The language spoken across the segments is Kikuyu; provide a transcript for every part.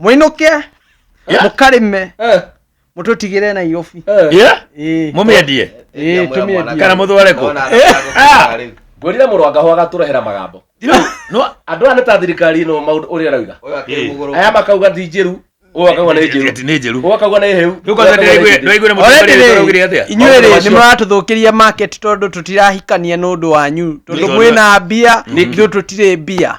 mũinũke Yeah. mũkarĩme Eh, mũtũtigĩre na iyobi eh. Yeah? Ĩĩ, må mä endie ĩĩ, tũmĩendie. Kana mũthware kũ? ngwĩrire mũrũ wa ngahũa agatũrehera magambo andũ aya nĩ ta thirikari ĩno maũndũ ũrĩa arauga aya makauga ti njĩru ũyũ akauga nĩ njĩru nä njä ru ũyũ akauga nĩ hĩu rä u kwanza ndäraiguä na må Already rĩ, tåraugire atä a inyuĩ Maũndũ rĩ macio. nĩ mũratũthũkĩria market tondũ tũtirahikania nĩ ũndũ wanyu tondũ Nĩ- mwĩna mbia Nĩkĩ? ithuĩ tũtirĩ mbia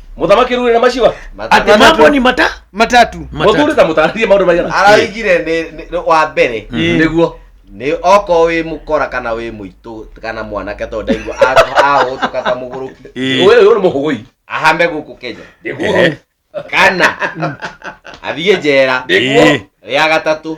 mũthamaki rurĩra maciwa Ati mambo ni mata matatu mũthuri ta mũtarĩrie maũndũ maigana araigire nĩ- nĩ- nĩ- wa mbere nĩguo nĩ oko wĩ mũkora kana wĩ mũitũ kana mwanake tondũ ndaigua ahũtũka ta mũgũrũki ũyũ ũyũ nĩ mũhũgũi ahame gũkũ kenya nĩguo kana athiĩ njera nĩguo rĩa gatatũ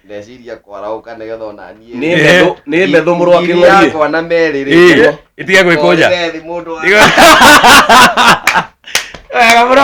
ndeciria kwaraũka nĩgetha ona niĩ nĩ Eh. metho nĩ metho mũrũ wa ngiri kĩng'orie yakwa na merĩ Ĩ, ĩtige gwĩkũnja Ngorĩre thĩ mũndũ wa- wega mũno